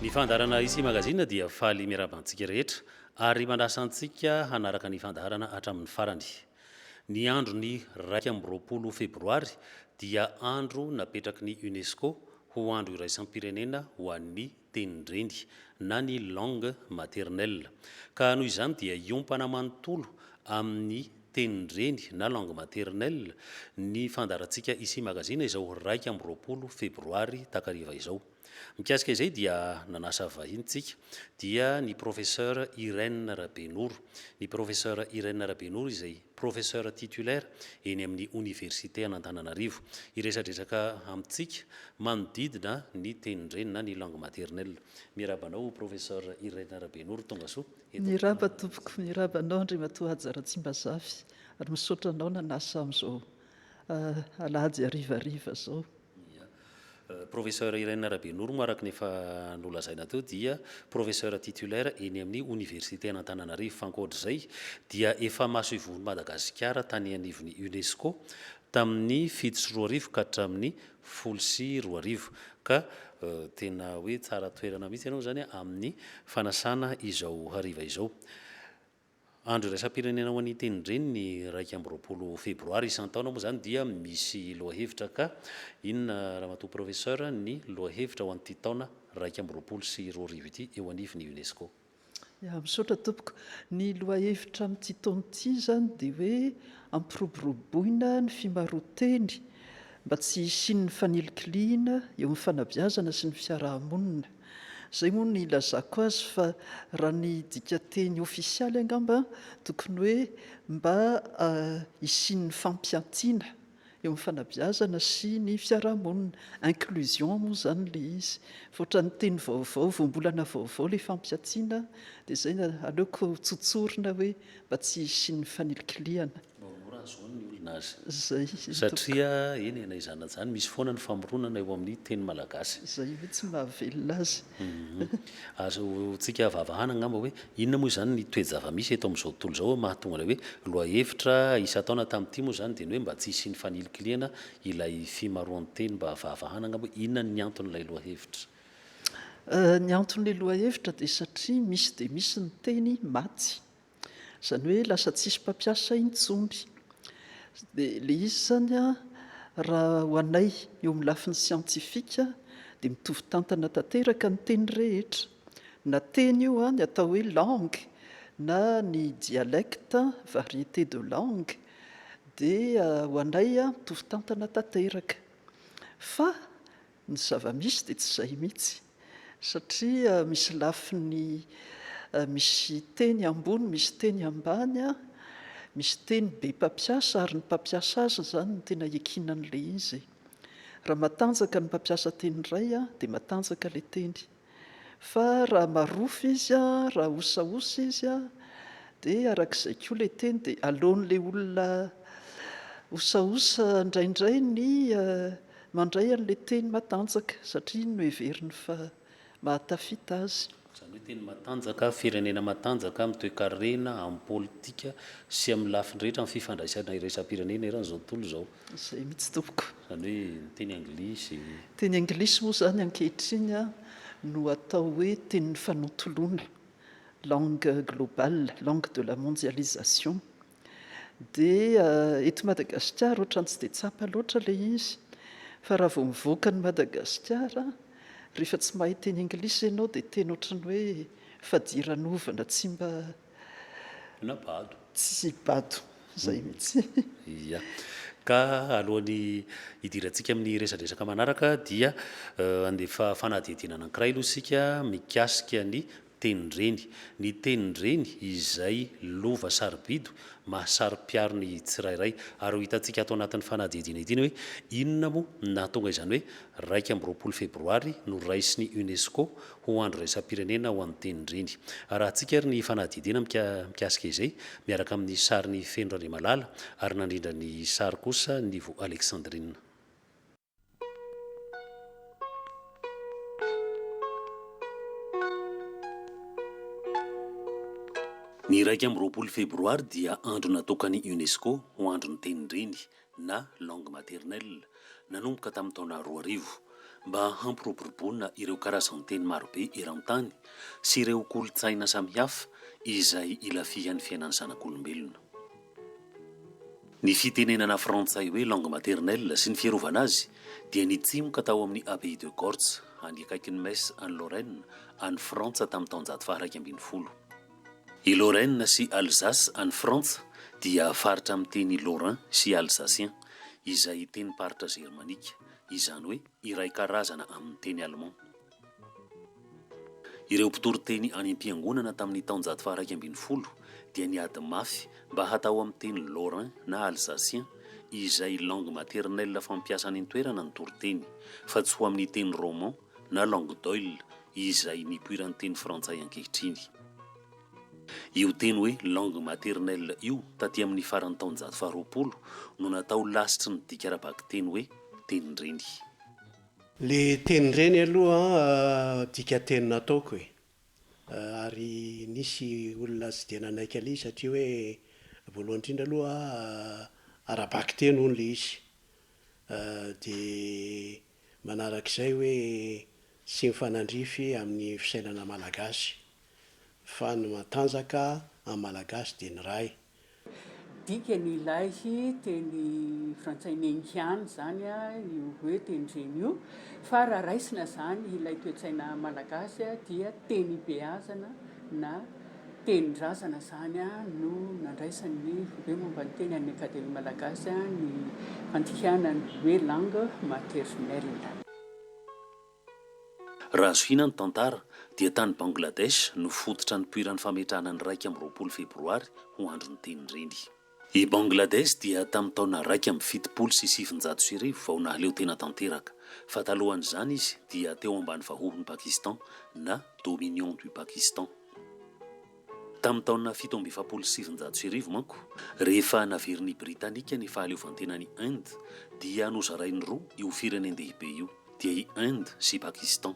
Ny fandaharana Ici Magazine dia faly miarahaba antsika rehetra ary manasa antsika hanaraka ny fandaharana hatramin'ny farany. Ny andron'ny iraika amby roapolo febroary dia andro napetraky ny UNESCO ho andro iraisam-pirenena ho an'ny tenin-dreny na ny langue maternelle, ka noho izany dia hiompana manontolo amin'ny tenin-dreny na langue maternelle ny fandaharantsika Ici Magazine izao iraika amby roapolo febroary takariva izao. Mikasika izay dia nanasa vahiny tsika dia ny Professeur Irène Rabenoro, ny Professeur Irène Rabenoro izay. Professeur titulaire eny amin'ny Oniversite an'Antananarivo. Hiresadresaka amintsika manodidina ny tenin-dreny na ny langue maternelle. Miraba anao Professeur Irene Rabenoro, tonga soa eto amin'ny Miraba tompoko, miraba anao Andriamatoa Haja Ratsimbazafy ary misaotra anao nanasa amin'izao alahady harivariva zao. Ia. Professeur Irène Rabenormo araka ny efa nolazaina teo dia Professeur titulaire eny amin'ny Oniversiten' Antananarivo fa ankoatr'izay dia efa masoivohon'i Madagasikara tany anivon'ny UNESCO tamin'ny fito sy roa arivo ka hatramin'ny folo sy roa arivo ka tena hoe tsara toerana mihitsy ianao izany amin'ny fanasana izao hariva izao. Andro iraisam-pirenena ho an'ny tenin-dreny ny iraika amby roapolo febroary. Isan-taona moa izany dia misy lohahevitra ka inona Ramatoa Professeur ny lohahevitra ho an'ity taona iraika amby roapolo sy roa arivo ity eo anivon'ny UNESCO? Ya, misaotra tompoko. Ny lohahevitra amin'ity taona ity izany dia hoe hampiroboroboina ny fimaroan-teny mba tsy hisian'ny fanilikilihina eo amin'ny fanabeazana sy ny fiaraha-monina. Zay moa no ilazako azy fa raha ny dikanteny ofisialy angamba tokony hoe mba hisian'ny fampiantiana eo amin'ny fanabeazana sy ny fiarahamonina, inclusion moa izany ilay izy fa ohatran'ny teny vaovao, voambolana vaovao ilay fampiantiana dia izay aleoko tsotsorina hoe mba tsy hisian'ny fanilikilihana. Mba mora ahazoany ny olona azy. Satria, eny e, na izany na izany, misy foana ny famoronana eo amin'ny teny malagasy. Izay ve tsy mahavelona azy? Azontsika avavahana angamba hoe, inona moa izany ny toe-java-misy eto amin'izao tontolo izao mahatonga ilay hoe lohahevitra isan-taona tamin'ity moa izany dia ny hoe mba tsy hisian'ny fanilikilihana ilay fimaroan-teny? Mba avavahana angamba hoe inona ny anton'ilay lohahevitra? Ny anton'ilay lohahevitra dia satria misy dia misy ny teny maty Izany hoe lasa tsisy mpampiasa intsony. Dia ilay izy izany raha ho anay eo amin'ny lafiny siantifika dia mitovy tantana tanteraka ny teny rehetra. Na teny io ny atao hoe langue na ny dialecte, variété de langue, dia ho anay mitovy tantana tanteraka. Fa Ny zava-misy dia tsy izay mihitsy, satria misy lafiny, misy teny ambony, misy teny ambany, misy teny be mpampiasa ary ny mpampiasa azy izany no tena ikiana an'ilay izy. Raha matanjaka ny mpampiasa teny iray dia matanjaka ilay teny. Fa raha marofo izy an, raha osaosa izy an, dia arak'izay koa ilay teny dia aleon'ilay olona osaosa indraindray ny mandray an'ilay teny matanjaka satria iny no heveriny fa mahatafita azy. Izany hoe teny matanjaka, firenena matanjaka amin'ny toekarena, amin'ny politika sy amin'ny lafiny rehetra, amin'ny fifandraisana iraisam-pirenena eran'izao tontolo izao. Izay mihitsy tompoko. Izany hoe ny teny anglisy. Teny anglisy moa izany ankehitriny no atao hoe tenin'ny fanontoloana, langue globale, langue de la mondialisation. Dia eto Madagasikara ohatran'ny tsy dia tsapa loatra ilay izy fa raha vao mivoaka an'i Madagasikara, rehefa tsy mahay teny anglisy ianao dia tena ohatran'ny hoe fadiranovana tsy mba Na bado. Tsy bado izay mihitsy. Ia. Ka alohan'ny hidirantsika amin'ny resadresaka manaraka dia handefa fanadihadiana anankiray aloha isika mikasika ny tenin-dreny. Ny tenin-dreny izay lova sarobidy mahasaro-piaro ny tsirairay. Ary ho hitantsika ato anatin'ny fanadihadiana ity ny hoe inona moa no nahatonga izany hoe iraika amby roapolo febroary noraisin'ny UNESCO ho andro iraisam-pirenena ho an'ny tenin-dreny. Arahantsika ary ny fanadihadiana mikasika izay, miaraka amin'ny sarin'i Feno Randriamalala ary nandrindra ny sary kosa Nivo Alexandrine. Ny iraika amby roapolo febroary dia andro natokan'ny UNESCO ho andron'ny tenin-dreny. na langue maternelle, nanomboka tamin'ny taona roa arivo, mba hampiroboroboana ireo karazan-teny marobe eran-tany sy ireo kolontsaina samihafa izay ilafihan'ny fiainan'ny zanak'olombelona. Ny fitenenana frantsay hoe langue maternelle sy ny fiarovana azy dia nitsimoka tao amin'ny Abbaye de Gortz, any akaikin'i Metz, any Lorraine, any Frantsa, tamin'ny taonjato faha-iraika ambin'ny folo. I Lorraine sy Alsace any Frantsa dia faritra amin'ny teny lorrain sy alsacien, izay tenim-paritra jermanika, izany hoe iray karazana amin'ny teny allemand. Ireo mpitoriteny any am-piangonana tamin'ny taonjato faharaika ambin'ny folo dia niady mafy mba hatao amin'ny teny lorrain na alsacien, izay langue maternelle fampiasa any an-toerana ny toriteny, fa tsy ho amin'ny teny roman na langue d'oil izay nipoiran'ny teny frantsay ankehitriny. Io teny hoe langue maternelle io taty amin'ny faran'ny taonjato faharoapolo no natao lasitry ny dika ara-bakiteny hoe tenin-dreny. Le tenin-dreny aloha dikateny nataoko e! ary nisy olona tsy dia nanaiky an'lay izy satria hoe voalohany indrindra aloha ara-bakiteny hono le izy dia Manarak'izay hoe tsy mifanandrify amin'ny fisainana malagasy fa ny matanjaka amin'ny malagasy dia ny ray. Dikany ilay teny frantsay mengian izany io hoe teny reny io fa raha raisina izany ilay toe-tsaina malagasy dia teny ibeazana na. tenin-drazana izany no nandraisan'ny Foibe momba ny teny an'ny Akademia Malagasy ny fandikana ny hoe langue maternelle. Raha zohiana ny tantara dia tany Bangladesh no fototra nipoiran'ny fametrahana ny iraika amby roapolo febroary ho andron'ny tenin-dreny. I Bangladesh dia tamin'ny taona iraika amby fitopolo sy sivinjato sy arivo vao nahaleo tena tanteraka, fa talohan'izany izy dia teo ambany vahohon'i Pakistan na Dominion du Pakistan. Tamin'ny taona fito amby efapolo sy sivinjato sy arivo manko, rehefa naverin'ny Britanika ny fahaleovantenan'i Inde, dia nozarainy roa io firenen-dehibe io, dia i Inde sy Pakistan.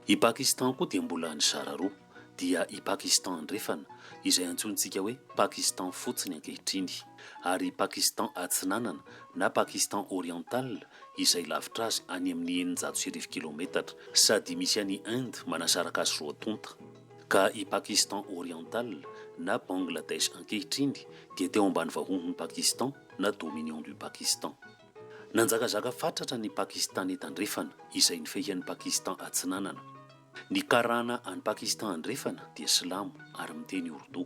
I Pakistan koa dia mbola nizara roa. dia i Pakistan Andrefana, izay antsointsika hoe Pakistan fotsiny ankehitriny, ary i Pakistan Atsinanana na Pakistan Oriental, izay lavitra azy any amin'ny eninjato sy arivo kilaometatra, sady misy an'i Inde manasaraka azy roa tonta. Ka i Pakistan Oriental, na Bangladesh ankehitriny, dia teo ambany vahohon'i Pakistan, na Dominion du Pakistan. Nanjakazaka fatratra ny Pakistane Tandrefana, izay nifehy an'i Pakistan Atsinanana. Ny Karana any Pakistan Andrefana dia silamo ary miteny Urdu.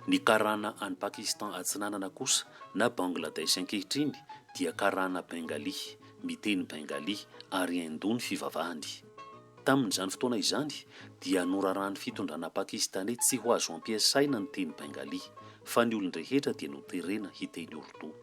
Ny Karana any Pakistan Atsinanana kosa na Bangladesh ankehitriny dia Karana Bengali, miteny Bengali, ary Hindu ny fivavahany. Tamin'izany fotoana izany dia noraràn'ny fitondrana Pakistaney tsy ho azo ampiasaina ny teny Bengali, fa ny olon-drehetra dia noterena hiteny Urdu.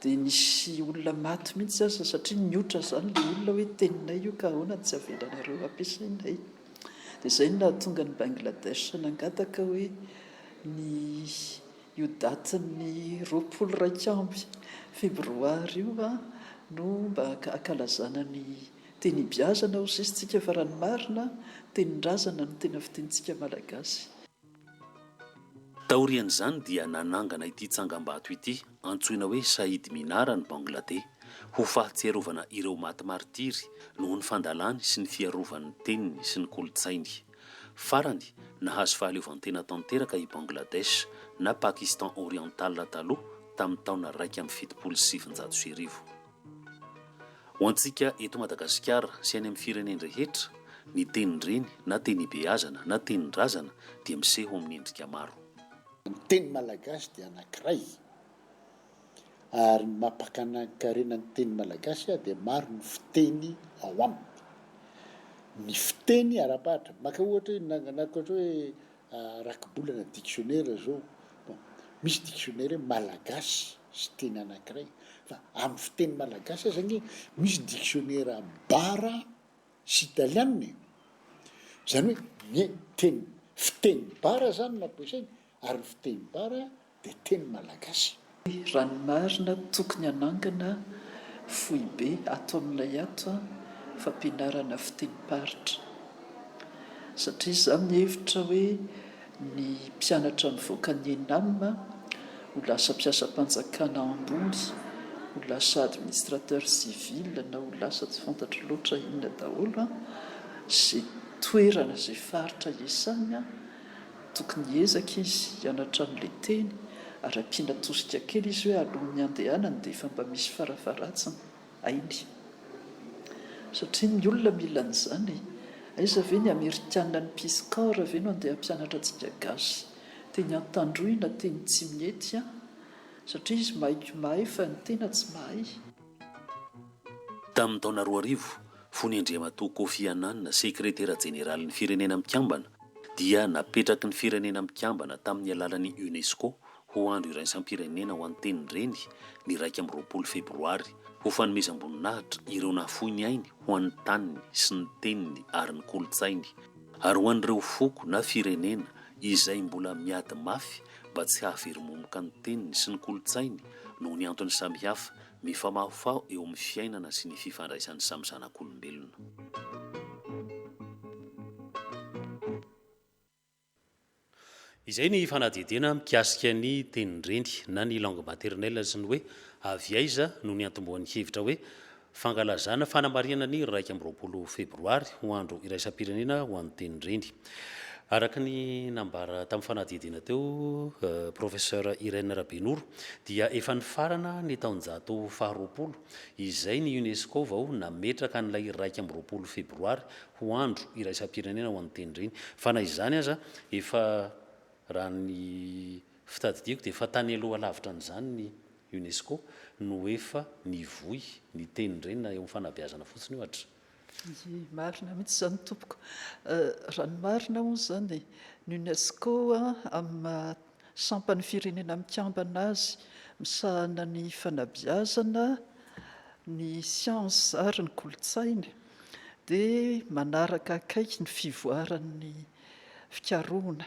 Dia nisy olona maty mihitsy aza satria nihoatra izany ilay olona hoe teninay io ka ahoana no tsy avelanareo hampiasainay? Dia izay no nahatonga an'i Bangladesh nangataka hoe ny io datin'ny roapolo iraika amby febroary io no mba hankalazana ny teny ibeazana hoy sisa tsika fa raha ny marina tenin-drazana no tena fitenintsika malagasy. Taorian'izany dia nanangana ity tsangambato ity antsoina hoe Shahid Minar any Bangladesh ho fahatsiarovana ireo maty martiry noho ny fandalany sy ny fiarovany ny teniny sy ny kolontsainy. Farany, nahazo fahaleovantena tanteraka i Bangladesh, na Pakistan Oriental taloha, tamin'ny taona iraika amby fitopolo sy sivinjato sy arivo. Ho antsika eto Madagasikara sy any amin'ny firenen-drehetra, ny tenin-dreny na tenibeazana na tenin-drazana dia miseho amin'ny endrika maro. Ny teny malagasy dia anankiray ary ny maha-mpakanan-karena ny teny malagasy dia maro ny fiteny ao aminy. Ny fiteny ara-paritra, maka ohatra hoe rakibolana dictionnaire zao bon misy dictionnaire hoe malagasy sy teny anakiray fa amin'ny fiteny malagasy aza nge misy dictionnaire bara sy italiana e zany hoe ny teny fiteny bara zany no ampiasainy ary ny fiteny bara dia teny malagasy. Raha ny marina tokony hanangana foibe ato amin'ilay ato fampianarana fitenim-paritra satria izaho mihevitra hoe ny mpianatra mivoaka ny Enam ho lasa mpiasam-panjakana ambony, ho lasa administrateur civil na ho lasa tsy fantatro loatra inona daholo izay toerana izay faritra iasany. Tokony hiezaka izy hianatra an'ilay teny ary ampiana tosika kely izy hoe alohan'ny handehanany dia efa mba misy farafaharatsiny hainy. Satria ny olona mila an'izany e! Aiza ve ny amerikana ny peace corps ve no handeha hampianatra antsika gasy teny antandroy na teny tsimihety an! Satria izy mahay ko mahay fa ny tena tsy mahay. Tamin'ny taona roa arivo, fony Andriamatoa Kofi Annan, Sekretera Jeneralin'ny Firenena Mikambana, dia napetraky ny Firenena Mikambana tamin'ny alalan'ny UNESCO ho Andro Iraisam-pirenena ho an'ny Tenin-dreny ny iraika amby roapolo Febroary, ho fanomezam-boninahitra ireo nahafoy ny ainy ho an'ny taniny sy ny teniny ary ny kolontsainy, ary ho an'ireo foko na firenena izay mbola miady mafy mba tsy hahaveromomoka ny teniny sy ny kolontsainy noho ny antony samihafa mifamahofaho eo amin'ny fiainana sy ny fifandraisan'ny samy zanak'olombelona. Izay ny fanadihadiana mikasika ny tenin-dreny na ny langue maternelle sy ny hoe avy aiza no niantombohan'ny hevitra hoe Fankalazana fanamarihana ny iraika amby roapolo febroary ho andro iraisam-pirenena ho an'ny teny reny. Araka ny nambara tamin'ny fanadihadiana teo, Professeur Irène Rabenoro, dia efa nifarana ny taonjato faharoapolo izay ny UNESCO vao nametraka an'ilay iraika amby roapolo febroary ho andro iraisam-pirenena ho an'ny teny reny. Fa na izany aza, efa raha ny fitadidiako dia efa tany aloha lavitra an'izany ny. UNESCO no efa mivoy ny teny reny na eo am fanabeazana fotsiny ohatra. Ie marina mihitsy izany tompoko. Raha ny marina moa izany ny UNESCO amin'ny maha sampan'ny firenena mikambana azy misahana ny fanabeazana, ny siansa ary ny kolontsaina dia manaraka akaiky ny fivoaran'ny fikarohana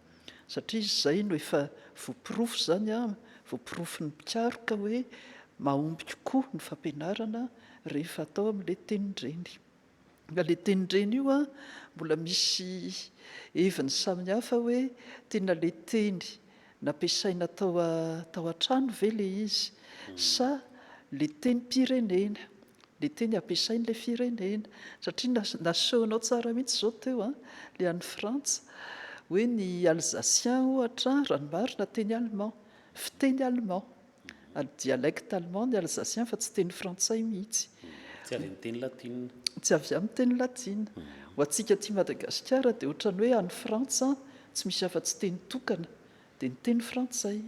Satria izay no efa voaporofo izany an, voaporofon'ny mpikaroka hoe mahomby kokoa ny fampianarana rehefa atao amin'ilay tenin-dreny. Ka ilay tenin-dreny io an, mbola misy heviny samihafa hoe tena ilay teny nampiasaina tao an-trano ve ilay izy sa ilay tenim-pirenena. Le teny ampiasainy le firenena satria nasehonao tsara mihitsy zao teo an, le any Frantsa hoe ny Alsacien ohatra raha ny marina teny allemand, fiteny allemand ary dialecte allemand ny Alsacien fa tsy teny frantsay mihitsy, Tsy avy amin'ny teny latina. tsy avy amin'ny teny latina, ho antsika aty Madagasikara dia ohatran'ny hoe any Frantsa tsy misy afa-tsy teny tokana Dia ny teny frantsay.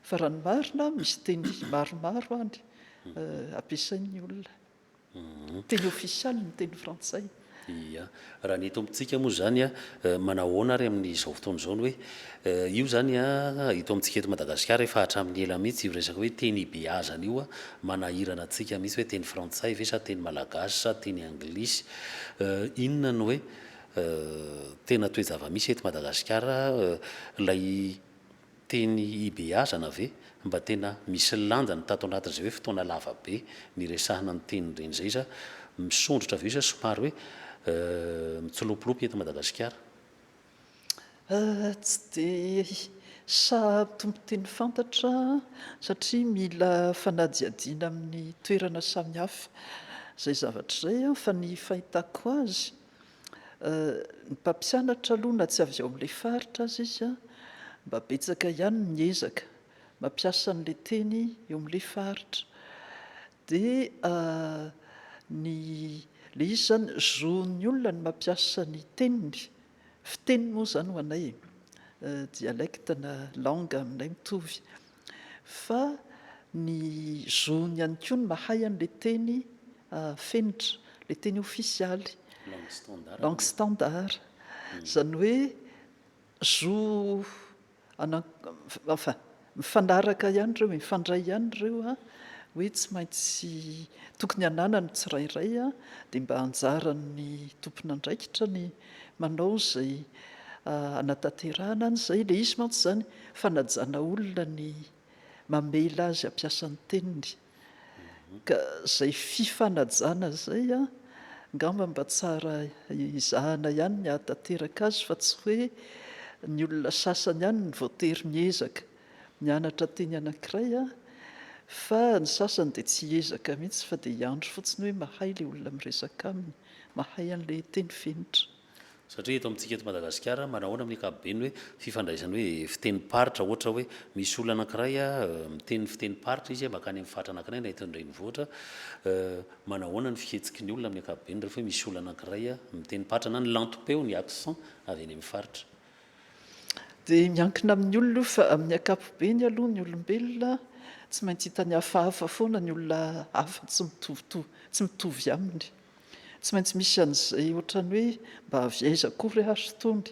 Fa raha ny marina, misy teny maromaro any ampiasain'ny olona. Teny ofisialy ny teny frantsay. Ia. Raha ny eto amintsika moa izany, manao ahoana ary amin'izao fotoana izao ny hoe, io izany eto amintsika eto Madagasikara efa hatramin'ny ela mihitsy io resaka hoe teny ibeazana io manahirana antsika mihitsy hoe teny frantsay ve sa teny malagasy sa teny anglisy. Inona no hoe. Tena toe-javamisy eto Madagasikara ilay teny hibeazana ve? Mba tena misy lanjany tato anatin'izay hoe fotoana lava be niresahana ny teny ireny izay sa misondrotra avy eo sa somary hoe mitsilopilopy eto Madagasikara? Tsy dia sahy tompon-teny fantatra satria mila fanadihadiana amin'ny toerana samihafa izay zavatra izay fa ny fahitako azy Ny mpampianatra aloha na tsy avy ao amin'ilay faritra aza izy mba betsaka ihany ny ezaka mampiasa an'ilay teny eo amin'ilay faritra. Dia ny ilay izy izany zon'ny olona ny mampiasa ny teniny, fiteny moa izany ho anay e, dialecte na langue aminay mitovy. fa ny zony ihany koa ny mahay an'ilay teny fenitra, ilay teny ofisialy, langue standard, izany hoe zo anan, enfin mifanaraka ihany ireo, mifandray ihany ireo hoe tsy maintsy tokony hananany ny tsirairay dia mba anjaran'ny tompon'andraikitra ny Manao izay hanatanterahana an'izay. Ilay izy mantsy izany fanajana olona ny mamela azy hampiasa ny teniny. Ka izay fifanajana izay angamba mba tsara ezahana ihany ny hahatanteraka azy fa tsy hoe ny olona sasany ihany no voatery miezaka Nianatra teny anankiray aho fa ny sasany dia tsy hiezaka mihitsy fa dia hiandry fotsiny hoe mahay ilay olona miresaka aminy, mahay an'ilay teny fenitra. Satria eto amintsika eto Madagasikara, manahoana amin'ny ankapobeny hoe fifandraisany hoe fitenim-paritra, ohatra hoe misy olona anankiray miteny fitenim-paritra izy mankany amin'ny faritra anankiray na eto an-drenivohitra, manahoana ny fihetsiky ny olona amin'ny ankapobeny rehefa hoe misy olona anankiray miteny paritra na ny lantom-peo, ny accent, avy any amin'ny faritra. Dia miankina amin'ny olona io fa amin'ny ankapobeny aloha ny olombelona tsy maintsy hitany hafahafa foana ny olona hafa tsy mitovitovy, tsy mitovy aminy. Tsy maintsy misy an'izay ohatran'ny hoe mba avy aiza akory ary itony.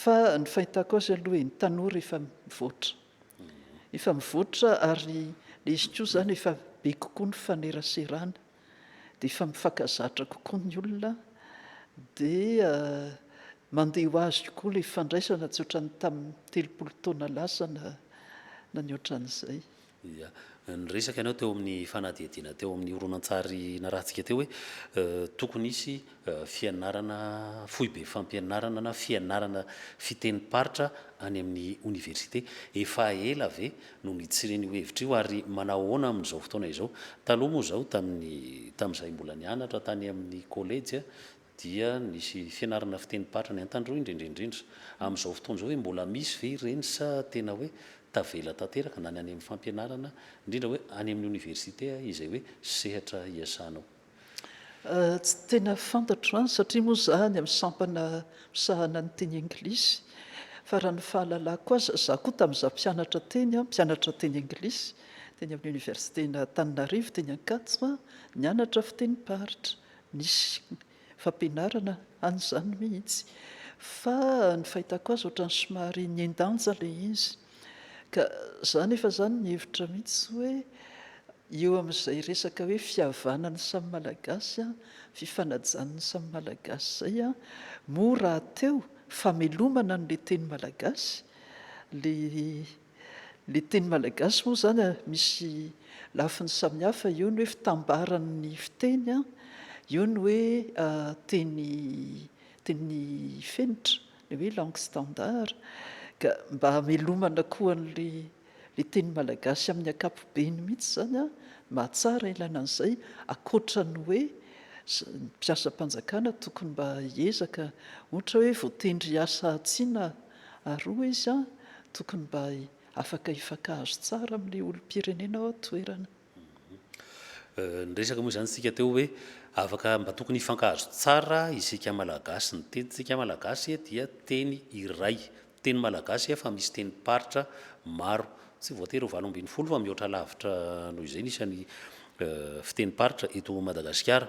Fa ny fahitako azy aloha e, ny tanora efa mivoatra. Efa mivoatra ary ilay izy koa izany efa be kokoa ny faneraserana. dia efa mifankazatra kokoa ny olona dia mandeha ho azy kokoa ilay fandraisana tsy ohatran'ny tamin'ny telopolo taona lasa na na ny ohatran'izay. Ia. Niresaka ianao teo amin'ny fanadihadiana teo amin'ny horonantsary narahantsika teo hoe tokony hisy fianarana foibe fampianarana na fianarana fitenim-paritra any amin'ny oniversite. Efa ela ve no nitsiren'io hevitra io ary manao ahoana amin'izao fotoana izao? Taloha moa izao tamin'ny tamin'izahay mbola nianatra tany amin'ny kolejy dia nisy fianarana fitenim-paritra ny Antandroy indrindra indrindra. Amin'izao fotoana izao ve mbola misy ve ireny sa tena hoe tavela tanteraka na ny any amin'ny fampianarana indrindra hoe any amin'ny oniversite izay hoe sehatra iasanao? Tsy tena fantatro izany satria moa izaho any amin'ny sampana misahana ny teny anglisy fa raha ny fahalalako azy, izaho koa tamin'izaho mpianatra teny, mpianatra teny anglisy teny amin'ny oniversiten'Antananarivo teny Ankatso, nianatra fitenim-paritra, nisy fampianarana an'izany mihitsy fa ny fahitako azy ohatran'ny somary nihen-danja ilay izy. Ka za anefa zany mihevitra mihitsy hoe eo amin'izay resaka hoe fihavanan'ny samy Malagasy an, fifanajan'ny samy Malagasy zay an, moa rahateo famelomana an'le teny Malagasy, le le teny Malagasy moa zany an misy lafiny samihafa, eo ny hoe fitambaran'ny fiteny an, eo ny hoe teny teny fenitra, Oui langue standard ka mba hamelomana koa anle le teny malagasy amin'ny ankapobeny mihitsy izany an, mahatsara ilaina an'izay akoatra ny hoe ny mpiasam-panjakana tokony mba hiezaka ohatra hoe voatendry hiasa atsy na aroa izy an, tokony mba afaka hifankahazo tsara amin'le olom-pirenena ao an-toerana. Niresaka moa izany isika teo hoe afaka mba tokony hifankahazo tsara isika Malagasy. Ny tenintsika Malagasy dia teny iray. Teny Malagasy efa misy tenim-paritra maro. Tsy voatery ho valo ambin'ny folo fa mihoatra lavitra noho izay ny isan'ny fitenim-paritra eto Madagasikara.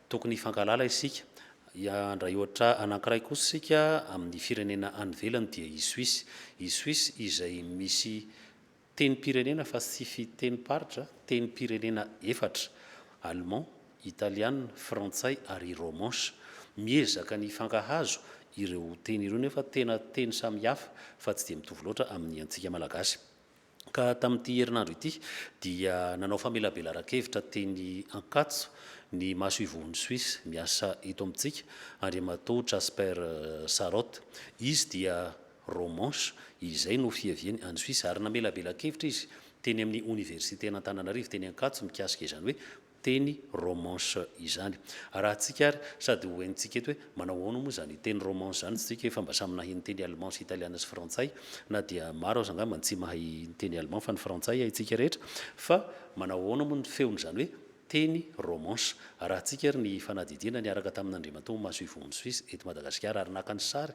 Tokony hifankahalala isika. Handray ohatra anankiray kosa isika amin'ny firenena any ivelany dia i Suisse. I Suisse izay misy Tenim-pirenena fa tsy fitenim-paritra, tenim-pirenena efatra, Allemand, Italiana, Frantsay ary Romanche. Miezaka ny hifankahazo ireo teny ireo nefa tena teny samy hafa fa tsy dia mitovy loatra amin'ny antsika Malagasy. Ka tamin'ity herinandro ity dia nanao famelabelaran-kevitra teny Ankatso ny masoivohon'i Suisse miasa eto amintsika, Andriamatoa Casper Sarotte. Izy dia Romance, izay no fiaviany any Suisse, ary namelabelankevitra izy teny amin'ny Oniversiten'Antananarivo teny Ankatso mikasika izany hoe teny romance izany. Arahintsika ary sady ho henontsika eto hoe manao ahoana moa izany teny romance izany isika efa mba samy nahay niteny Allemand sy Italiana sy Frantsay, na dia maro aza angamba ny tsy mahay niteny Allemand fa ny Frantsay haintsika rehetra, fa manao ahoana moa ny feon'izany hoe teny romance. Arahintsika ary ny fanadihadiana niaraka tamin'Andriamatoa Masoivohony Suisse eto Madagasikara ary naka ny sary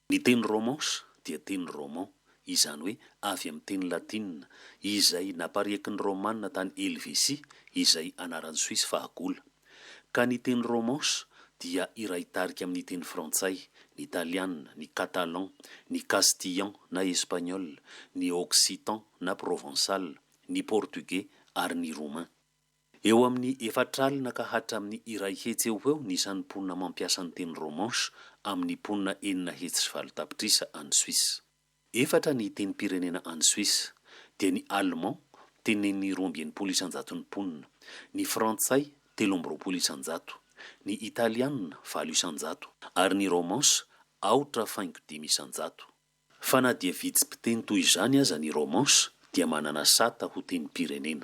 Ny teny Romans dia teny roman, izany hoe avy amin'ny teny latinina, izay napariaky ny Romanina tany Helvesia, izay anaran'i Soisy fahagola. Ka ny teny Romans dia iray tarika amin'ny teny frantsay, ny talianina, ny catalan, ny castillan na espagnol, ny occitan na provençal, ny portugais ary ny roumain. Eo amin'ny efatra alina ka hatramin'ny iray hetsy eo ho eo ny isan'ny mponina mampiasa ny teny romanche amin'ny mponina enina hetsy sy valo tapitrisa any Suisse. Efatra ny tenim-pirenena any Suisse, dia ny allemand, tenenin'ny roa amby enimpolo isan-jaton'ny mponina, ny frantsay, telo amby roapolo isan-jato, ny italiana, valo isan-jato, ary ny romanche, aotra faingo dimy isan-jato. Fa na dia vitsy mpiteny toy izany aza ny romanche, dia manana sata ho tenim-pirenena.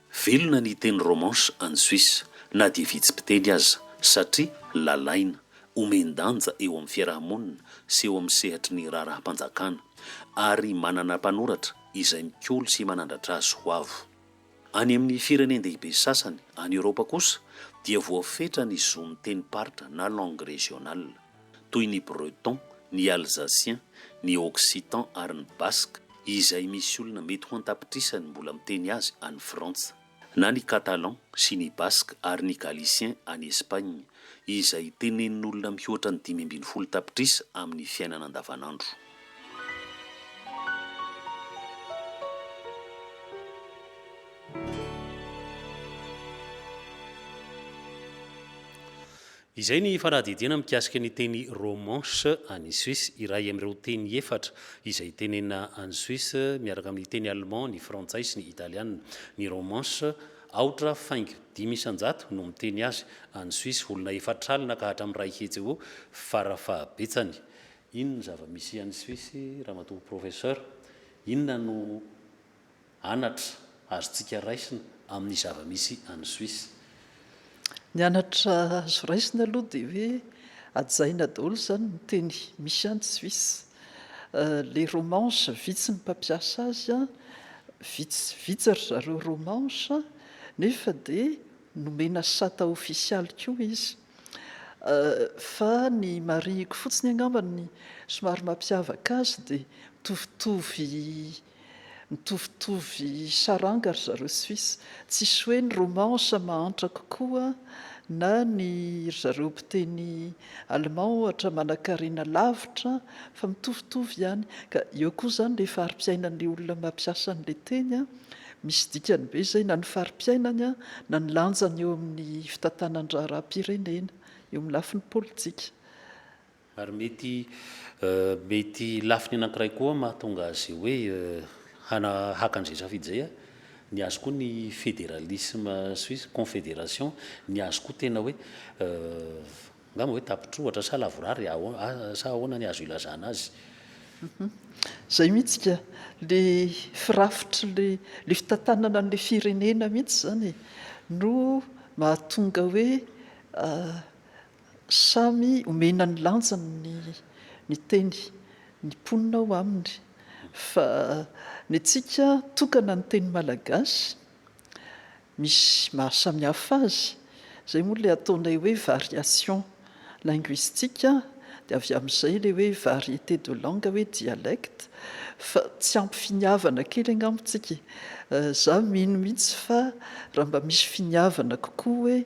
Velona ny teny romanche any Suisse, na dia vitsy mpiteny aza, satria lalaina, omen-danja eo amin'ny fiaraha-monina sy eo amin'ny sehatry ny raharaham-panjakana, ary manana mpanoratra izay mikolo sy manandratra azy ho avo. Any amin'ny firenen-dehibe sasany any Eoropa kosa dia voafetra ny zon'ny tenim-paritra na langue régionale. toy ny Breton, ny Alsacien, ny Occitan ary ny Basque, izay misy olona mety ho an-tapitrisany mbola miteny azy any Frantsa, na ny Catalan sy ny Basque ary ny Galicien any Espagne, izay tenenin'olona mihoatra ny dimy ambin'ny folo tapitrisa amin'ny fiainana andavanandro. Izay ny fanadihadiana mikasika ny teny romanche any Suisse, iray amin'ireo teny efatra izay tenenina any Suisse, miaraka amin'ny teny allemand, ny frantsay sy ny italiana. Ny romanche, aotra faingo dimy isan-jato no miteny azy any Suisse, olona efatra alina ka hatramin'ny iray hetsy eo fara fahabetsany. Inona no zava-misy any Suisse, Ramatoa Professeur? Inona no anatra azontsika raisina amin'ny zava-misy any Suisse. Ny anatra azo raisina aloha dia hoe hajaina daholo izany ny teny misy any Suisse. Ilay romanche vitsy ny mpampiasa azy, vitsy vitsy ry zareo romanche nefa dia nomena sata ofisialy koa izy. Fa ny marihiko fotsiny angamba ny somary mampiavaka azy dia mitovitovy Mitovitovy saranga ry zareo suisse, tsisy hoe ny romansa mahantra kokoa na ny ry zareo mpiteny allemand ohatra manakarena lavitra fa mitovitovy ihany ka eo koa zany le fari-piainan'le olona mampiasa an'le teny a, misy dikany be zay na ny fari-piainany a na ny lanjany eo amin'ny fitantanan-draharaham-pirenena, eo amin'ny lafiny politika. Ary mety mety lafiny anankiray koa mahatonga azy hoe hana haka an'izay safidy izay a, ny azy koa ny federalisme suisse, confederation, ny azy koa tena hoe angamba hoe tapitr'ohatra sa lavorary a sa ahoana ny azo ilazana azy. Izay mihitsy ka, le firafitry le le fitantanana an'le firenena mihitsy izany e, no mahatonga hoe Samy omena ny lanjany ny ny teny, ny mponina ao aminy, fa ny antsika tokana ny teny malagasy misy maha samy hafa azy, izay moa ilay ataonay hoe variation linguistique an, dia avy amin'izay ilay hoe variété de langue hoe dialecte, fa tsy ampy finiavana kely angamba tsika e! Za mino mihitsy fa raha mba misy finiavana kokoa hoe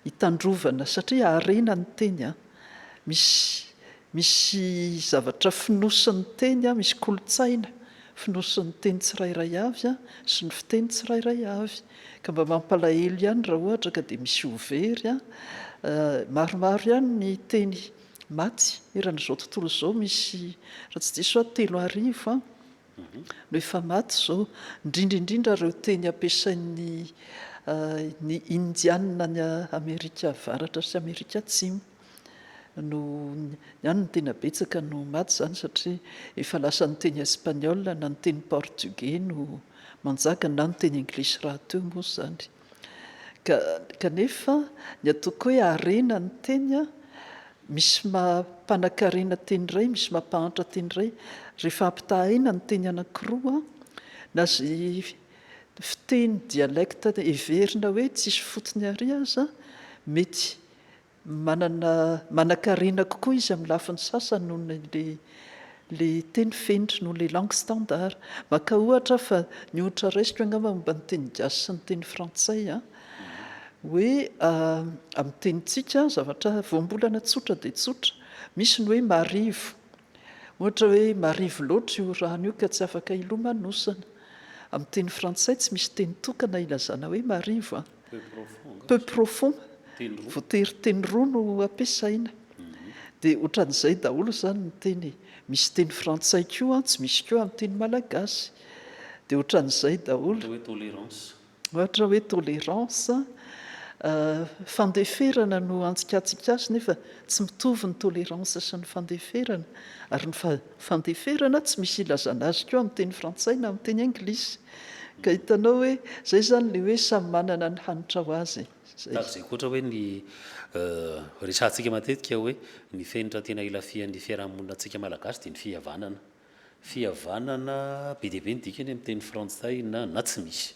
hitandrovana satria harena ny teny a! misy misy zavatra fonosin'ny teny a! misy kolontsaina fonosin'ny teny tsirairay avy a! sy ny fiteny tsirairay avy ka mba mampalahelo ihany raha ohatra ka dia misy ho very a! maromaro ihany ny teny maty eran'izao tontolo izao misy raha tsy diso aho telo arivo a! no efa maty izao, indrindra indrindra ireo teny ampiasain'ny ny Indianina any Amerika Avaratra sy Amerika Atsimo no ihany no tena betsaka no maty izany satria efa lasa ny teny Espagnol na ny teny Portugais no manjaka na ny teny English rahateo moa izany. Kanefa, ny ataoko hoe harena ny teny an, misy maha mpanakarena teny iray, misy maha mpahantra teny iray. Rehefa ampitahaina ny teny anankiroa, na izay fiteny, dialecte, heverina hoe tsisy fotony àry aza, mety. Manana manankarena kokoa izy amin'ny lafiny sasany noho ny ilay teny fenitra, noho ilay langue standard. Maka ohatra aho fa ny ohatra raisiko angamba momba ny teny gasy sy ny teny frantsay an, hoe amin'ny tenintsika zavatra voambolana tsotra dia tsotra, misy ny hoe marivo, ohatra hoe marivo loatra io rano io ka tsy afaka hilomanosana. Amin'ny teny frantsay tsy misy teny tokana hilazana hoe marivo an. peu profond, voatery teny roa no ampiasaina dia ohatran'izay daholo izany ny teny e, misy teny frantsay koa tsy misy koa amin'ny teny malagasy dia ohatran'izay daholo, ohatra hoe tolérance, fandeferana no antsikantsika azy nefa tsy mitovy ny tolérance sy ny fandeferana ary ny fandeferana tsy misy ilazana azy koa amin'ny teny frantsay na amin'ny teny anglisy. Ka hitanao hoe zay zany le hoe samy manana ny hanitra ho azy e! Zay. Tahaka izay koa ohatra hoe ny resahantsika matetika hoe ny fenitra tena ilafihan'ny fiarahamonina antsika Malagasy dia ny fihavanana. Fihavanana be dia be ny dikany amin'ny teny frantsay na na tsy misy.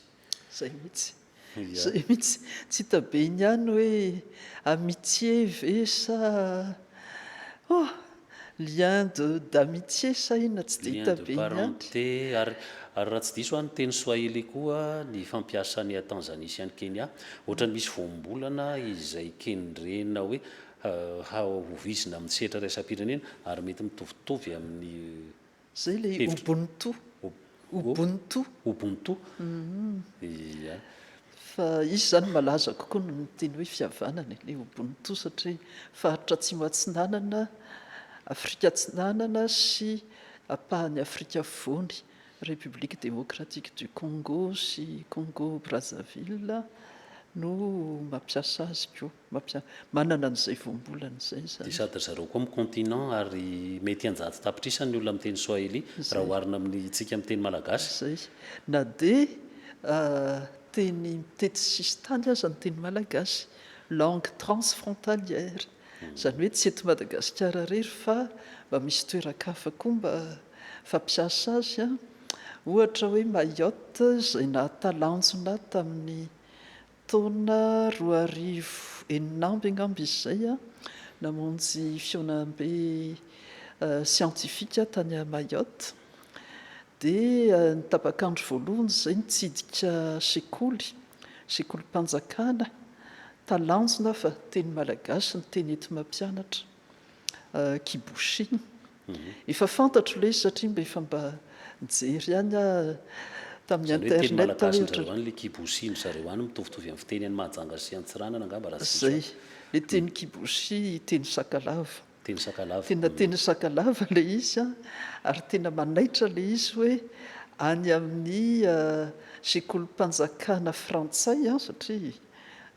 Zay mihitsy. Izay mihitsy, tsy hita be iny ihany hoe amitié ve sa oh! lien de d'amitié sa inona tsy dia hita be iny ihany. Lien de parenté, ary ary raha tsy diso aho ny teny swahili koa ny fampiasany à Tanzanie sy any Kenya, ohatrany misy voambolana izay kendrena hoe hahovizina amin'ny sehatra iraisam-pirenena ary mety mitovitovy amin'ny Zay le Ubuntu, Ubuntu. Ubuntu, ia. Fa izy zany malaza kokoa noho ny teny hoe fihavanana e, le Ubuntu satria faritra Atsimo Atsinanana, Afrika Atsinanana sy apahan'i Afrika Afovoany, République Démocratique du Congo sy Congo Brazzaville no mampiasa azy koa. Mampiasa. Manana an'izay voambolana izay izany. Dia sady ry zareo koa mi-continent ary mety an-jato tapitrisa ny olona miteny swahili raha oharina amintsika miteny malagasy. Izay izy. Na dia teny mitety sisintany aza ny teny malagasy, langue transfrontalière. Izany hoe tsy eto Madagasikara irery fa mba misy toeran-kafa koa mba fampiasa azy. Ohatra hoe Mayotte izay nahatalanjona tamin'ny Taona roa arivo enina amby angamba izy izay an, namonjy fihaonambe siantifika tany Mayotte. Dia ny tapak'andro voalohany izay nitsidika sekoly, sekolim-panjakana, talanjona fa teny malagasy no teny enti-mampianatra. Kiboshin. Efa fantatro ilay izy satria mba efa mba nijery ihany aho tamin'ny internet. Izany hoe teny malagasin-dry zareo any ilay kiboshin-dry zareo any mitovitovy amin'ny fiteny any Mahajanga sy Antsiranana angamba raha tsy diso aho. Izay. Ilay teny kiboshi, teny sakalava. Teny sakalava. Tena teny sakalava ilay izy ary tena manaitra ilay izy hoe any amin'ny sekolim-panjakana frantsay satria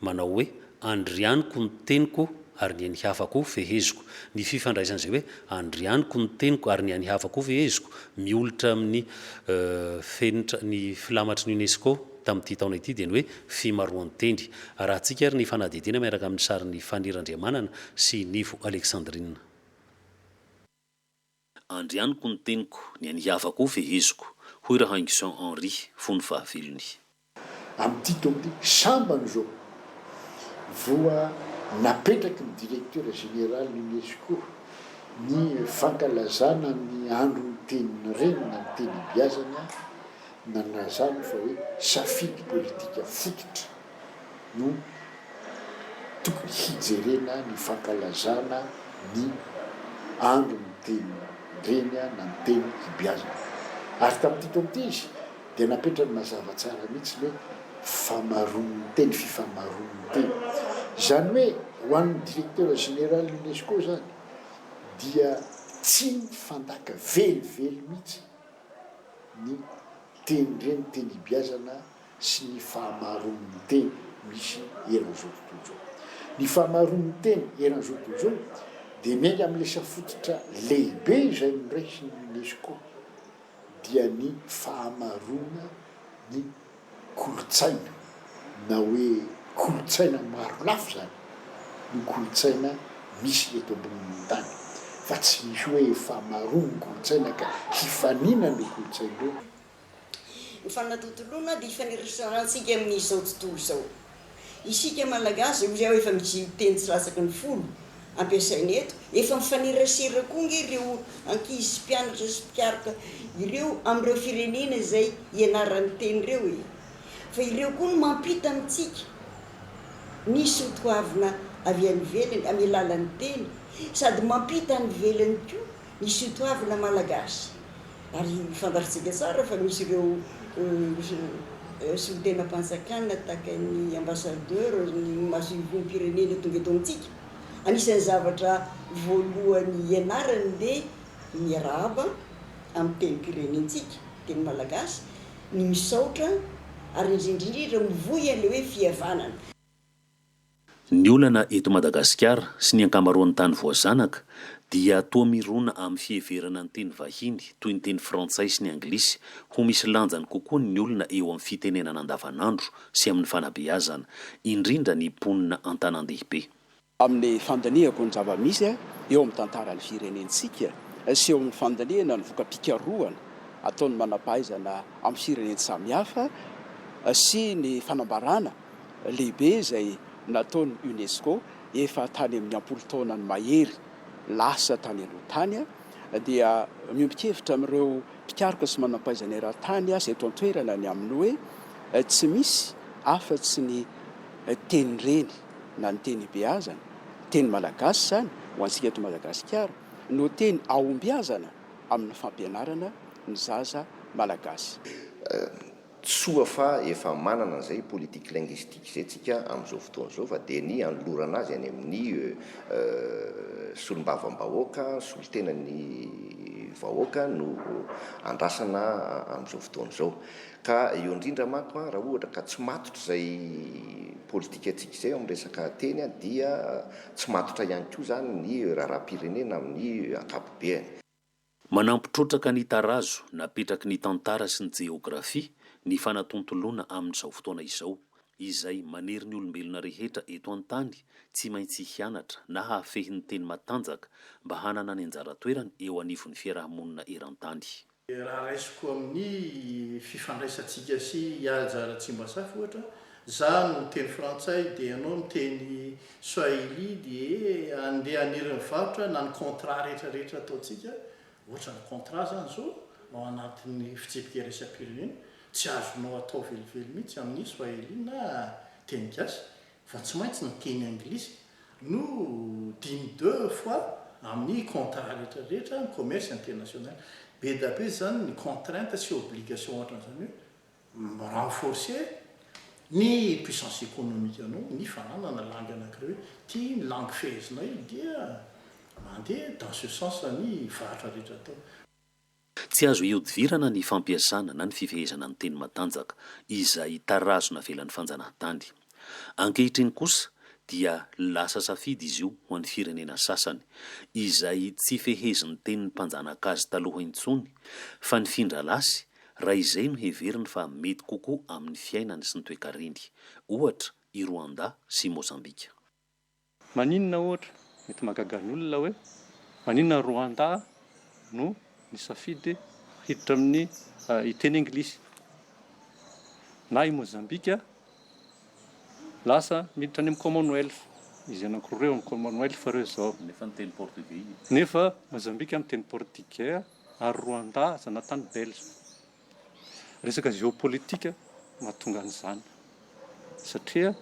manao hoe, Andrianiko ny teniko ary ny an'ny hafa koa feheziko. Ny fifandraisan'izay hoe Andrianiko ny teniko ary ny an'ny hafa koa feheziko, miolotra amin'ny fenitra ny filamatry ny UNESCO tamin'ity taona ity dia ny hoe fimaroan-teny. Arahantsika ary ny fanadihadiana miaraka amin'ny sarin'i Faniry Andriamanana sy Nivo Alexandrine. Andrianiko ny teniko, ny an'i Hava koa feheziko, hoy Rahaingison Henri, fony fahavelony. Amin'ity taon'ity, sambany izao voa napetraky ny Directeur Général Unesco ny fankalazana ny Andron'ny Tenin'ny Reny na ny Tenibiazana nanazava fa hoe safidy politika fototra. no tokony hijerena ny fankalazana ny andron'ny tenin-dreny na ny teny hibeazana. Ary tamin'ity taona ity izy dia napetrany mazava tsara mihitsy ny hoe famaron'ny teny, fifamaron'ny teny. Izany hoe ho an'ny Directeur Général UNESCO izany dia tsy fandaka velively mihitsy ny tenin-dreny, teny hibeazana sy ny fahamaroan'ny teny misy eran'izao tontolo izao. Ny fahamaroan'ny teny eran'izao tontolo izao dia miainga amin'ny lesa fototra lehibe izay noraisin'ny UNESCO dia ny fahamaroana ny kolontsaina na hoe kolontsaina maro lafy izany no kolontsaina misy eto ambonin'ny tany fa tsy misy hoe fahamaroan'ny kolontsaina ka hifaninana ireo kolontsaina ireo Ny fanatontoloana dia ifaneraserantsika amin' izao tontolo izao. Isika Malagasy, hoy aho efa mijia io teny tsy latsaky ny folo ampiasaina eto, efa mifanerasera koa ange ireo ankizy sy mpianatra sy mpikaroka ireo amin' ireo firenena izay ianarany teny ireo e! Fa ireo koa no mampita amintsika ny soatoavina avy any ivelany amin' ny alalan' ny teny sady mampita any ivelany koa Misy io toavina malagasy ary fantatsika tsara fa misy ireo solontenam-panjakana tahaka ny ambassadeur, ny masoivohom-pirenena tonga eto amintsika. Anisan'ny zavatra voalohany ianarany le miarahaba amin'ny tenim-pirenentsika, teny malagasy, ny misaotra ary indrindra indrindra mivoy an'le hoe fihavanana. Ny olana eto Madagasikara sy ny ankamaroan'ny tany voazanaka dia toa mirona amin'ny fiheverana ny teny vahiny toy ny teny frantsay sy ny anglisy ho misy lanjany kokoa ny olona eo amin'ny fitenenana andavanandro sy amin'ny fanabeazana, indrindra ny mponina an-tanàn-dehibe. Amin'ny fandinihako ny zava-misy eo amin'ny tantaran'ny firenentsika sy eo amin'ny fandinihana ny voka-pikarohana ataon'ny manam-pahaizana amin'ny firenena samihafa sy ny fanambarana lehibe izay nataon'ny UNESCO efa tany amin'ny am-polotaonany mahery lasa tany aloha tany dia miombon-kevitra amin'ireo mpikaroka sy manam-pahaizana eran-tany sy eto an-toerana ny amin'ny hoe tsy misy afa-tsy ny tenin-dreny na ny teny ibeazana, teny malagasy izany ho antsika eto Madagasikara, no teny ahombiazana amin'ny fampianarana ny zaza malagasy. Soa fa efa manana an'izay politique linguistique izay tsika amin'izao fotoana izao fa dia ny hanolorana azy any amin'ny solombavambahoaka, solontenan'ny vahoaka no andrasana amin'izao fotoana izao. Ka eo indrindra manko raha ohatra ka tsy matotra izay politika antsika izay eo amin'ny resaka teny dia tsy matotra ihany koa izany ny raharaham-pirenena amin'ny ankapobeany. Manampy trotraka ny tarazo napetraky ny tantara sy ny jeografia ny fanatontoloana amin'izao fotoana izao, izay manery ny olombelona rehetra eto an-tany tsy maintsy hianatra na hahafehy ny teny matanjaka mba hanana ny anjara toerany eo anivon'ny fiaraha-monina eran-tany. Raha raisiko amin'ny fifandraisantsika sy hihaja ara-tsimbasafa, ohatra, izaho miteny frantsay dia ianao miteny Swahili dia andeha haniry ny varotra na ny contrat rehetra rehetra ataontsika ohatran'ny contrat zany zo ao anatin'ny fitsipika iraisam-pirenena tsy azonao atao velively mihitsy amin'ny swahili na teny gasy fa tsy maintsy ny teny anglisy no dimy deux fois amin'ny contrat rehetra rehetra ny commerce international be da be zany ny contrainte sy obligation ohatran'izany hoe mi-renforcer ny puissance économique anao, ny fananana langue anankiray hoe ity ny langue fehezinay dia mandeha dans ce sens ny varotra rehetra atao. Tsy azo ihodivirana ny fampiasana na ny fifehezana ny teny matanjaka izay tarazo navelan'ny fanjanahantany. Ankehitriny kosa dia lasa safidy izy io ho an'ny firenena sasany izay tsy fehezin'ny tenin'ny mpanjanaka azy taloha intsony fa nifindra lasy raha izay no heveriny fa mety kokoa amin'ny fiainany sy ny toekareny, ohatra, i Rwanda sy Mozambika. Maninona, ohatra, mety mahagaga ny olona hoe maninona Rwanda no nisafidy hiditra amin'ny hiteny Anglisy, na i Mozambika lasa miditra any amin'ny Commonwealth, izy anankiroa ireo amin'ny Commonwealth ireo izao, nefa Mozambika miteny Portigey, ary Rwanda zanatany belge. Resaka géopolitique mahatonga an'izany satria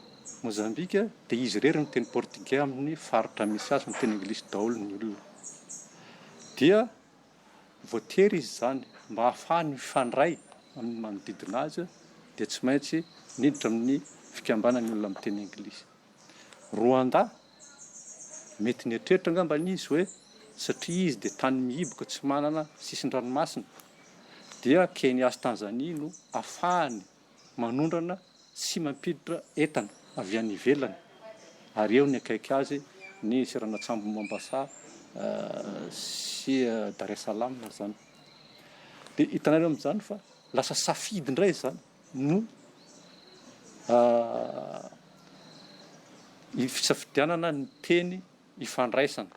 Mozambika dia izy irery miteny portugais amin'ny faritra misy azy miteny anglisy daholo ny olona. Dia voatery izy izany mba hahafahany mifandray amin'ny manodidina azy dia tsy maintsy miditra amin'ny fikambanan'ny olona miteny anglisy. Rwanda? Mety nieritreritra angamba izy hoe satria izy dia tany mihiboka tsy manana sisin-dranomasina, dia Kenya sy Tanzania no afahany manondrana sy mampiditra entana avy any ivelany, ary eo ny akaiky azy ny seranan-tsambon'i Mombasa sy Dar es Salam izany. Dia hitanareo amin'izany fa lasa safidy indray izany. no fisafidianana ny teny ifandraisana.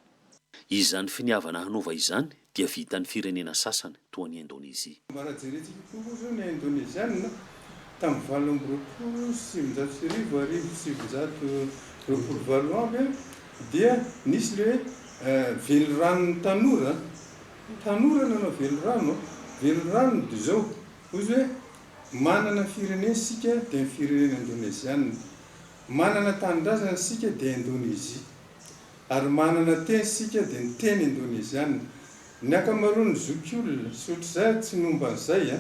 Izany finiavana hanova izany dia vitan'ny firenena sasany, toa an'i Indonezia. Mba raha jerentsika koa moa izao ny Indoneziana tamin'ny valo amby roapolo sy sivinjato sy arivo, arivo sy sivinjato roapolo valo amby, dia nisy ilay hoe veloranon'ny tanora, tanora nanao velorano, velorano dia izao, Hoy izy hoe, Manana firenena isika, dia ny firenena indonezianina. Manana tanindrazana isika, dia Indonezia. Ary manana teny isika, dia ny teny indonezianina. Ny ankamaroan'ny zokiolona, sy ohatr'izay ary tsy ny momba an'izay an,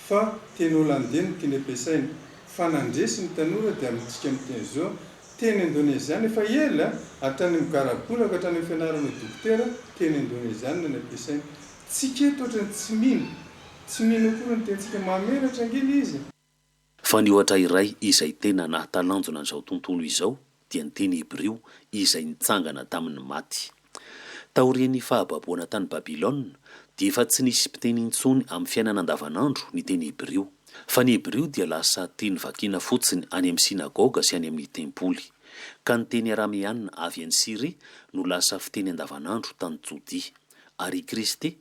fa teny holandey no tiany ampiasaina. Fa nandresy ny tanora dia amintsika miteny izao, teny indonezianina efa ela, hatrany amin'ny garabola ka hatrany amin'ny fianarana ho dokotera, teny indonezianina no ampiasaina. Tsika eto ohatran'ny tsy mino. Tsy mino akory ny tentsika mahamenatra ange le izy e! Fa ny ohatra iray izay tena nahatalanjona an'izao tontolo izao dia ny teny hebrio izay nitsangana tamin'ny maty. Taorian'ny fahababoana tany Babylona dia efa tsy nisy mpiteny intsony amin'ny fiainana andavanandro ny teny hebrio, fa ny hebrio dia lasa teny vakiana fotsiny any amin'ny synagoga sy any amin'ny tempoly, ka ny teny arameana avy any Syria no lasa fiteny andavanandro tany Jodia, ary i Kristy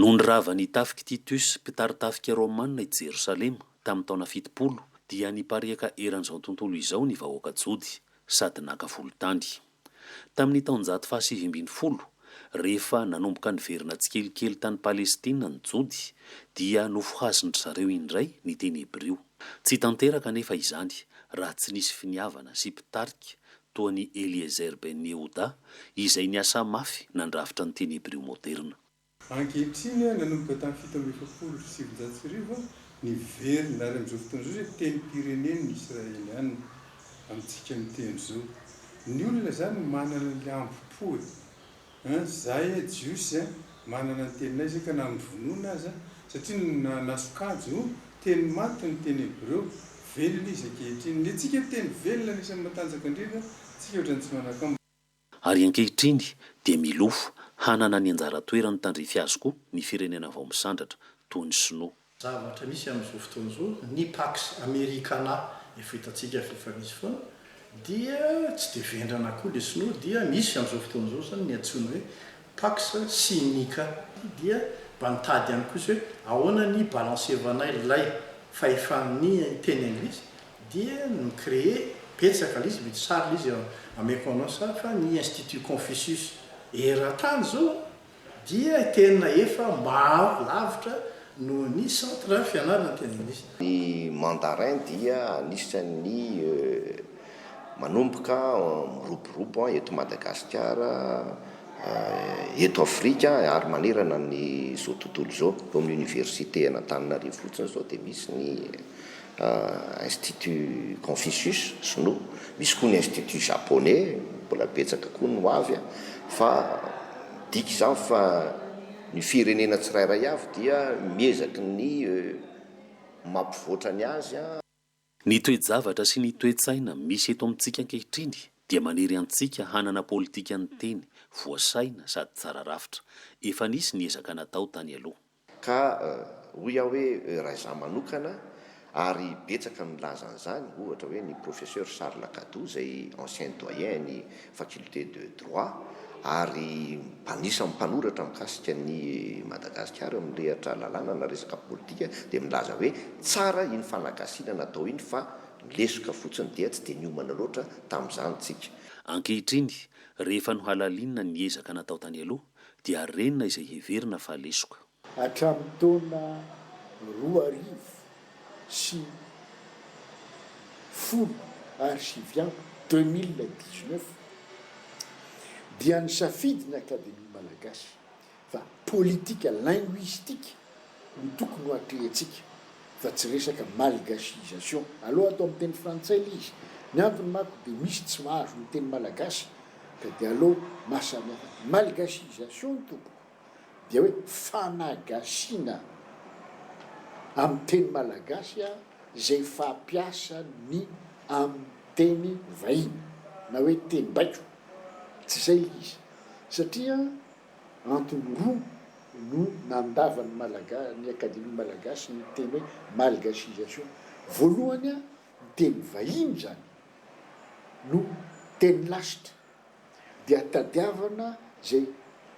Nony nirava ny tafik'i Titus, mpitari-tafika Romana i Jerosalema, tamin'ny taona fitopolo, dia nipariaka eran'izao tontolo izao ny vahoaka Jody, sady naka volon-tany. Tamin'ny taonjato fahasivy ambin'ny folo, rehefa nanomboka niverina tsikelikely tany Palestina ny Jody, dia nofohazin-dry zareo indray ny teny hebrio. Tsy tanteraka anefa izany, raha tsy nisy finiavana sy mpitarika toa an'i Eliezer ben Yehuda, izay niasa mafy nandrafitra ny teny hebreo moderna. Ankehitriny, nanomboka tamin'ny fito amby efapolo sy sivinjato sy arivo, niverina ary amin'izao fotoana izao dia tenim-pirenen'ny Israeliana amintsika miteny izao. Ny olona izany manana ny hambom-po e! An, zahay e Jiosy an, manana ny teninay izay ka na mivonona aza, satria ny na nasokajy ho, teny maty ny teny hebreo, velona izy ankehitriny. Ny antsika teny velona anisan'ny matanjaka indrindra tsika ohatran'ny tsy manan-kambo. Ary ankehitriny dia milofo hanana ny anjara toerany tandrify azy koa ny firenena vao misandratra, toy ny Sinoa. Zavatra misy amin'izao fotoana izao, ny Pax Americana efa hitantsika fa efa misy foana, dia tsy dia vendrana koa ilay sinoa, dia misy amin'izao fotoana izao izany ny antsoina hoe Pax Sinica, dia mba nitady ihany koa izy hoe ahoana ny balansevanay ilay fahefan'ny teny anglisy, dia ni-creer betsaka ilay izy, mety sary ilay izy, ameko anao sary, fa ny Institut Confucius eran-tany izao, dia tena efa maro lavitra noho ny Centre fianarana teny anglisy. Ny mandarin dia anisan'ny manomboka miroborobo eto Madagasikara, eto Afrika ary manerana an'izao tontolo izao. Eo amin'ny Oniversite an'Antananarivo fotsiny izao dia misy ny. Institut Confucius, sinoa, misy koa ny Institut Japonais, mbola betsaka koa ny ho avy a! fa midika izany fa ny firenena tsirairay avy dia miezaky ny mampivoatra ny azy a! Ny toe-javatra sy ny toe-tsaina misy eto amintsika ankehitriny dia manery antsika hanana politikan'ny teny voasaina sady tsara rafitra. Efa nisy ny ezaka natao tany aloha. Ka hoy aho hoe raizaho manokana, ary betsaka no nilaza an'izany, ohatra hoe ny Professeur Charles Gadou izay ancien doyen an'ny Faculté de Droit ary anisan'ny mpanoratra mikasika an'i Madagasikara mirehitra lalàna na resaka politika dia milaza hoe tsara iny fanagasiana natao iny fa lesoka fotsiny dia tsy dia niomana loatra tamin'izany tsika. Ankehitriny, rehefa nohalalinina ny ezaka natao tany aloha, dia renina izay heverina fa lesoka. Hatramin'ny taona roa arivo sy folo ary sivy amby, deux mille dix-neuf, dia nisafidy ny Akademia Malagasy fa politika linguistique no tokony ho atrehintsika fa tsy resaka malgachiisation. Aleo atao amin'ny teny frantsay ilay izy. Ny antony manko dia misy tsy mahazo ny teny malagasy ka dia aleo mahasamihafa. Malgachiisation ny tompoko dia hoe fanagasiana amin'ny teny malagasy izay fampiasa ny amin'ny teny vahiny na hoe teny baiko. Tsy izay ilay izy satria. Antony roa no nandava ny Malaga ny Akademia Malagasy ny teny hoe malgasisation. Voalohany a, ny teny vahiny izany no teny lasitra dia tadiavana izay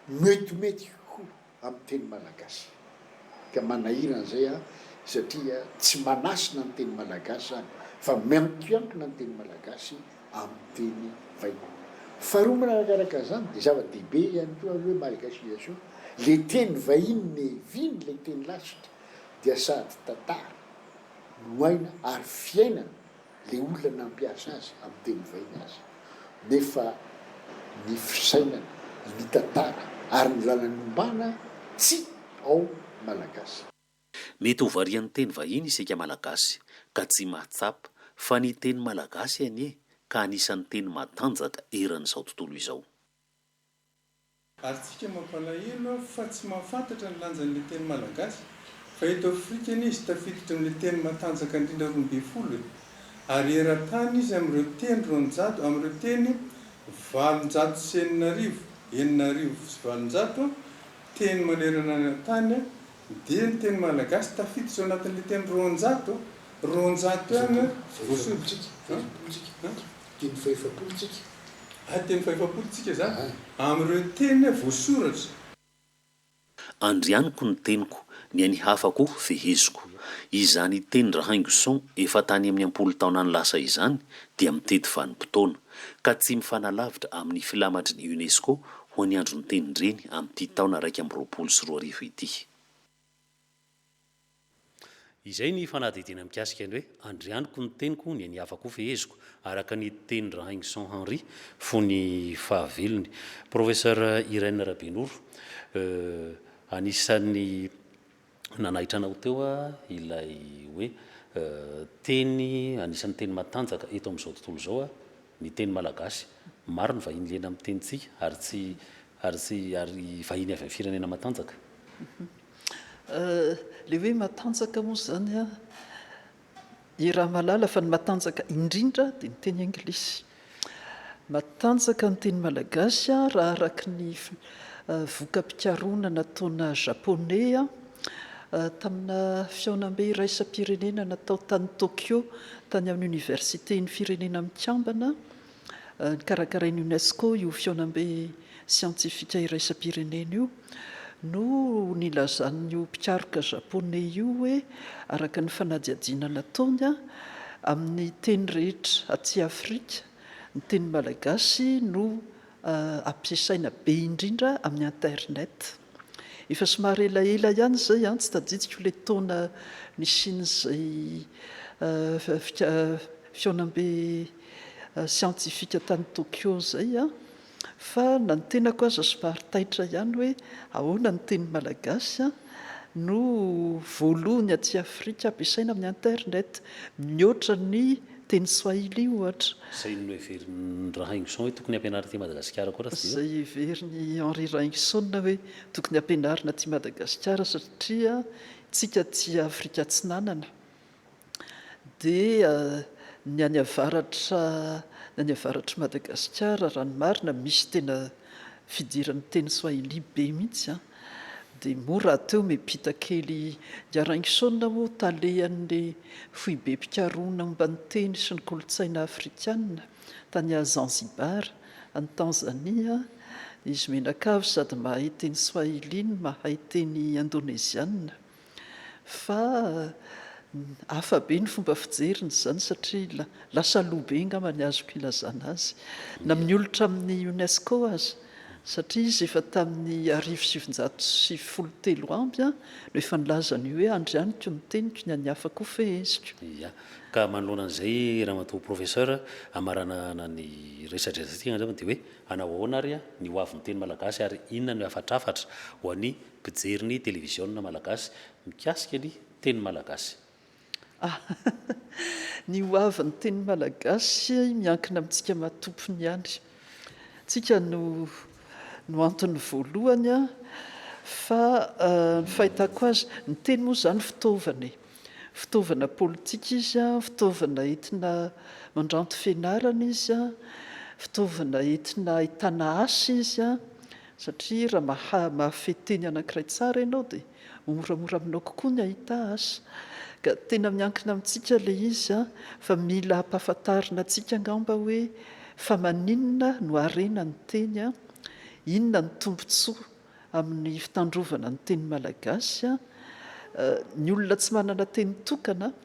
metimety ho amin'ny teny malagasy. Ka manahirana izay a, satria tsy manasina ny teny malagasy izany fa miankiankina ny teny malagasy. amin'ny teny vahiny. Faharoa manarakaraka izany dia zava-dehibe ihany koa aloha hoe malgachiisation, ilay teny vahiny neviany ilay teny lasitra dia sady tantara no aina ary fiainana ilay olona nampiasa azy amin'ny teny vahiny aza nefa ny fisainana, ny tantara ary ny lalany ombana tsy ao malagasy. Mety ho varian'ny teny vahiny isika Malagasy ka tsy mahatsapa fa ny teny malagasy anie ka anisan'ny teny matanjaka eran'izao tontolo izao. Ary tsika mampalahelo fa tsy mahafantatra ny lanjan'ilay teny malagasy fa eto Afrika anie izy tafiditra amin'ilay teny matanjaka indrindra roa ambin'ny folo e! Ary eran-tany izy amin'ireo teny roanjato, amin'ireo teny valonjato sy enina arivo, enina arivo sy valonjato, teny manerana ny tany, Dia ny teny malagasy tafiditra ao anatin'ilay teny roanjato, roanjato ihany an, fahefapolo tsika, fahefapolo tsika, an, teny fahefapolo tsika, ah, teny fahefapolo tsika izany, an, amin'ireo teny voasoratra. Andrianiko ny teniko, ny an'ny hafa koa feheziko. Izany teni-dRahaingoson efa tany amin'ny am-polo taona any lasa izany dia mitety vanim-potoana, ka tsy mifanalavitra amin'ny filamatry ny UNESCO ho an'i Andry Niteny Ndreny amin'ity taona iraika amby roapolo sy roa arivo ity. Izay ny fanadihadiana mikasika ny hoe Andrianiko ny teniko, ny an'i Yavah koa feheziko, araka ny teny Rahaingson Henri, fony fahavelony. Professeur Irène Rabenoro, anisan'ny Nanaitra anao teo ilay hoe teny anisan'ny teny matanjaka eto amin'izao tontolo izao ny teny malagasy. Maro ny vahiny liana amin'ny tenintsika ary tsy ary tsy ary vahiny avy amin'ny firenena matanjaka. Ilay hoe matanjaka moa izany I Ramalala fa ny matanjaka indrindra dia ny teny anglisy. Matanjaka ny teny malagasy raha araka ny voka-pikarohana nataona Japoney tamina fihaonambe iraisam-pirenena natao tany Tokyo tany amin'ny Oniversiten'ny Firenena Mikambana Nikarakarain'ny UNESCO io fihaonambe siantifika iraisam-pirenena io no nilazan'io mpikaroka Japoney io hoe araka ny fanadihadiana nataony, amin'ny teny rehetra aty Afrika, ny teny malagasy no ampiasaina be indrindra amin'ny internet. Efa somary elaela ihany izay, tsy tadidiko ilay taona nisian'izay fihaonambe siantifika tany Tokyo izay an! fa na ny tenako aza somary taitra ihany hoe ahoana ny teny malagasy an! no voalohny aty Afrika ampiasaina amin'ny internet mihoatra ny teny swahili ohatra. Izay no heverin'i Rahaingison hoe tokony hampianarina aty Madagasikara koa raha tsy diso? Izay heverin'i Henri Rahaingison hoe tokony hampianarina aty Madagasikara satria isika aty Afrika Atsinanana, dia ny any avaratra ny any avaratr'i Madagasikara raha ny marina misy tena fidiran'ny teny swahili be mihitsy an! dia moa rahateo miampita kely i Araingison moa talehan'ny foibem-pikarohana momba ny teny sy ny kolontsaina afrikana tany Zanzibar any Tanzania izy mianakavy sady mahay teny swahili no mahay teny indoneziana Fa hafa be ny fomba fijeriny izany satria lasa loha be angamba ny azoko ilazana azy na miolotra amin'ny UNESCO aza satria izy efa tamin'ny arivo sy sivinjato sy folo telo amby no efa nilaza an'io hoe andry amiko ny teniko ny an'ny hafa koa feheziko. Ia. Ka manoloana an'izay ramatoa Professeur hamaranana ny resadresatsika angamba dia hoe hanao ahoana ary ny hoavin'ny teny malagasy ary inona no hafatrafatra ho an'ny mpijery ny televiziona malagasy mikasika ny teny malagasy. Ah! Ny ho avin'ny teny malagasy miankina amintsika matompony ihany. Tsika no no antony voalohany an! Fa ny fahitako azy, ny teny moa izany fitaovana e! Fitaovana politika izy an, fitaovana entina mandranto fianarana izy an, fitaovana entina ahitana asa izy an, Satria raha maha mahafehy teny anankiray tsara ianao dia ho moramora aminao kokoa ny hahita azy. Ka tena miankina amintsika ilay izy an! Fa mila hampahafantarina antsika angamba hoe fa maninona no harena ny teny an! Inona ny tombontsoa amin'ny fitandrovana ny teny malagasy an! Ny olona tsy manana teny tokana an!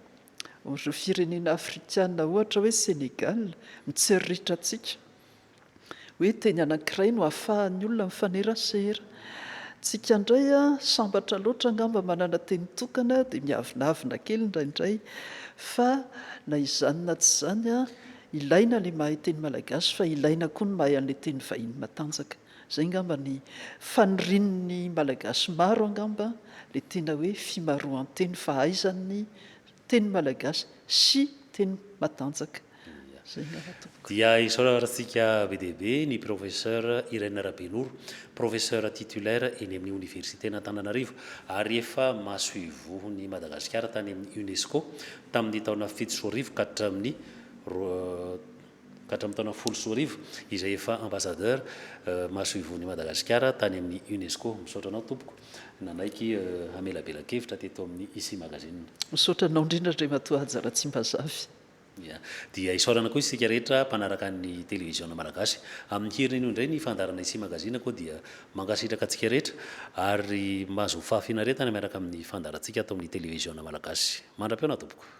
Ireo firenena afrikana ohatra hoe Sénégal, mitsiriritra antsika. Hoe teny anankiray no ahafahan'ny olona mifanerasera. Tsika indray sambatra loatra angamba manana teny tokana dia miavonavona kely indraindray fa na izany na tsy izany ilaina ilay mahay teny malagasy fa ilaina koa ny mahay an'ilay teny vahiny matanjaka. Izay angamba ny fanirian'ny malagasy maro angamba ilay tena hoe fimaroan-teny fahaizan'ny teny malagasy sy teny matanjaka. Dia isaorantsika be dia be ny Professeur Irène Rabenoro, Professeur Titulaire eny amin'ny Oniversiten'Antananarivo ary efa masoivohon'i Madagasikara tany amin'ny UNESCO tamin'ny taona fito sy roa arivo ka hatramin'ny ka hatramin'ny taona folo sy roa arivo izay efa Ambassadeur masoivohon'i Madagasikara tany amin'ny UNESCO. Misaotra anao tompoko nanaiky hamelabela-kevitra teto amin'ny Ici Magazine. Misaotra anao indrindra Andriamatoa Haja Ratsimbazafy. Ia. Dia isaorana koa isika rehetra mpanaraka ny Televiziona Malagasy. Amin'ny hiriny anio indray ny fandaharanay sy magazine koa dia mankasitraka antsika rehetra ary mahazo fahafinaretana miaraka amin'ny fandaharantsika ato amin'ny Televiziona Malagasy. Mandra-pihaona tompoko.